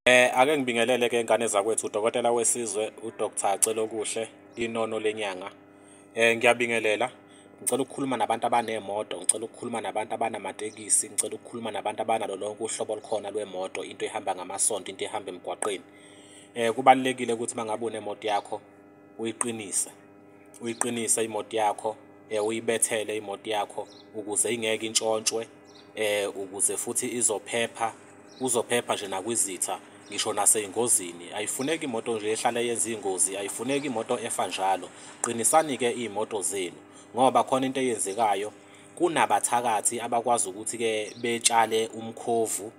Eh ake ngibingelele ke ingane zakwethu udokotela wesizwe uDr Celokuhle inono lenyanga. Eh ngiyabingelela. Ngicela ukukhuluma nabantu abanemoto, ngicela ukukhuluma nabantu abanamatekisi, ngicela ukukhuluma nabantu abanalo lonke uhlobo olukhona lwemoto, into ehamba ngamasonto, into ehamba emgwaqeni. Eh kubalekile ukuthi mangabe unemoto yakho uyiqinise. Uyiqinise imoto yakho, eh uyibethele imoto yakho ukuze ingeke intshontshwe eh ukuze futhi izophepha uzophepha nje nakwizitha ngisho naseyingozini ayifuneki imoto nje ehlale yenza ingozi ayifuneki imoto efa njalo qinisani ke imoto zenu ngoba khona into eyenzekayo kunabathakathi abakwazi ukuthi ke betshale umkhovu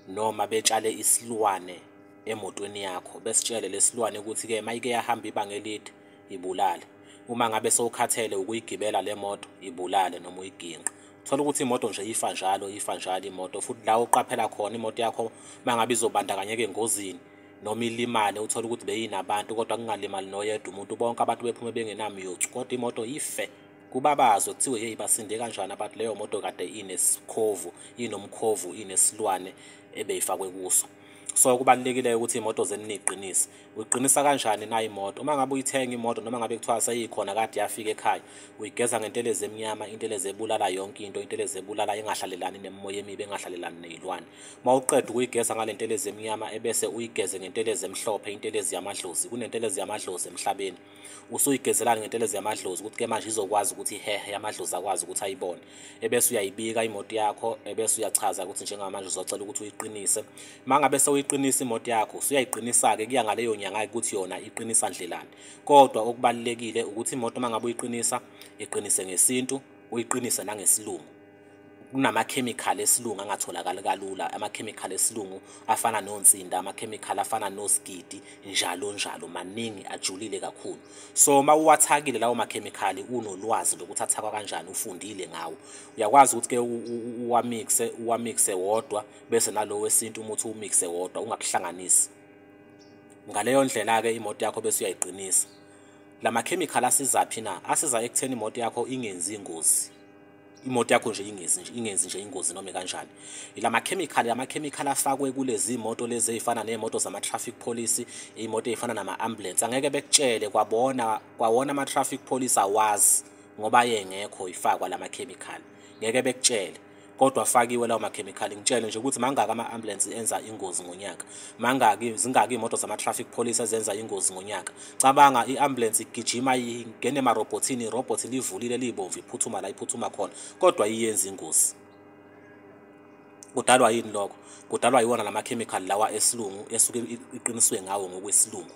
noma betshale isilwane emotweni yakho besitshele lesilwane ukuthi ke mayike yahamba ibanga elide ibulale uma ngabe sowukhathele ukuyigibela le moto ibulale noma uyiginqa thola ukuthi imoto nje ifa njalo ifa njalo imoto futhi la uqaphela khona imoto yakho mangabe izobandakanyeka engozini noma ilimale uthole ukuthi beyinabantu kodwa kungalimali noyedwa umuntu bonke abantu bephume bengenamyothu kodwa imoto ife kubabazwe kuthiwe yeyi basinde kanjani abantu leyo moto kade inesikhovu inomkhovu inesilwane ebeyifakwe kuso so kubalulekile ukuthi imoto zenu niyiqinise uyiqinisa kanjani na imoto uma ngabe uyithenga imoto noma ngabe kuthiwa seyikhona kade yafika ekhaya uyigeza ngentelezi emnyama intelezi ebulala yonke into intelezi ebulala engahlalelani nemimoya emibi engahlalelani neyilwane uma uqeda ukuyigeza ngale ntelezi emnyama ebese uyigeze ngentelezi emhlophe intelezi yamadlozi kunentelezi yamadlozi emhlabeni usuyigezelani ngentelezi yamadlozi ukuthi ke manje izokwazi ukuthi ihehe yamadlozi akwazi ukuthi ayibone ebese uyayibika imoto yakho ebese uyachaza ukuthi njengamanje uzocela ukuthi uyiqinise mangabe sewuyiqinisa imoto yakho usuyayiqinisa-ke kuya ngaleyo nyanga ukuthi yona iqinisa ndlelani kodwa okubalulekile ukuthi imoto mangabe uyiqinisa iqinise ngesintu uyiqinise nangesilungu kunamakhemikhali esilungu angatholakali kalula amakhemikhali esilungu afana nonsinda amakhemikhali afana nosigidi njalo njalo maningi ajulile kakhulu so uma uwathakile lawo makhemikhali unolwazi lokuthi athakwa kanjani ufundile ngawo uyakwazi ukuthi ke uwamixe uwamixe wodwa bese nalowo wesintu umuthi uwumixe wodwa ungakuhlanganisi ngaleyo ndlela-ke imoto yakho bese uyayiqinisa la makhemikhali asizaphi na asiza ekutheni imoto yakho ingenzi ingozi imoto yakho nje ingenzi nje ingenzi nje ingozi noma kanjani ilama chemical lama chemical afakwe kulezi imoto lezi ezifana nemoto zama traffic police imoto ezifana nama ambulance angeke bekutshele kwabona kwawona ama traffic police awazi ngoba yengekho ifakwa lama chemical ngeke bekutshele kodwa afakiwe lawo makhemikhali ngitshele nje ukuthi mangaki ama-ambulensi enza ingozi ngonyaka mangaki zingaki iy'moto zama-traffic police ezenza ingozi ngonyaka cabanga i-ambulance igijima ingene emarobhothini irobhothi livulile liyibomvu iphuthuma la iphuthuma khona kodwa iyenza ingozi kudalwa yini lokho kudalwa yiwona la makhemikhali lawa esilungu esuke iqiniswe ngawo ngokwesilungu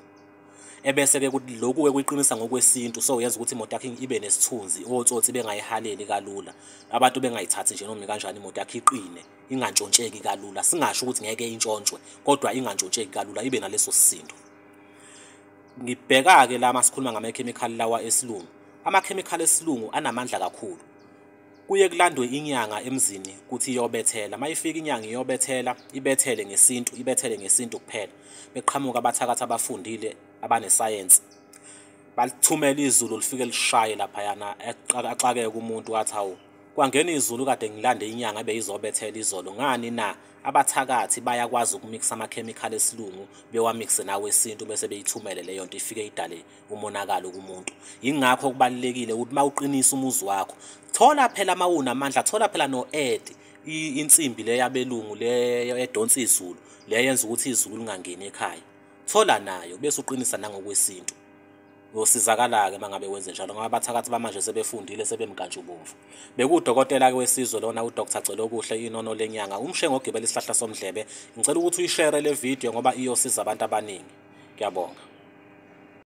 ebese-ke lokhu-ke kuyiqinisa ngokwesintu so yenza ukuthi imoto yakho ibe nesithunzi otsotsi bengayihaleli kalula abantu bengayithathi nje noma kanjani imoto yakho iqine ingantshontsheki kalula singasho ukuthi ngeke intshontshwe kodwa ingantshontsheki kalula ibe naleso sisindo ngibheka-ke la masikhuluma ngamakhemikhali lawa esilungu amakhemikhali esilungu anamandla kakhulu kuye kulandwe inyanga emzini ukuthi iyobethela uma ifika inyanga iyobethela ibethele ngesintu ibethele ngesintu kuphela beqhamuka abathakathi abafundile abanesayensi balithumela izulu lifike lishaye laphayana axakeke umuntu wathi hawu kwangena izulu kade ngilande inyanga ebeyizobethela izolo ngani na abathakathi bayakwazi ukumikisa amakhemikhali esilungu bewamikise nawe esintu bese beyithumele leyo nto ifike idale umonakalo kumuntu yingakho kubalulekile ukuthi uma uqinisa umuzi wakho thola phela uma unamandla thola phela no-edi insimbi le yabelungu leyo edonsa izulu le yenza ukuthi izulu lingangeni ekhaya thola nayo bese uqinisa nangokwesintu Uyosizakala-ke uma ngabe wenze njalo ngoba abathakathi bamanje sebefundile sebemnkantshubomvu. Bekuwudokotela-ke wesizwe lona uDr Celokuhle inono lenyanga umshe ngogibela isihlahla somdlebe. Ngicela ukuthi uyishere le video ngoba iyosiza abantu abaningi. Ngiyabonga.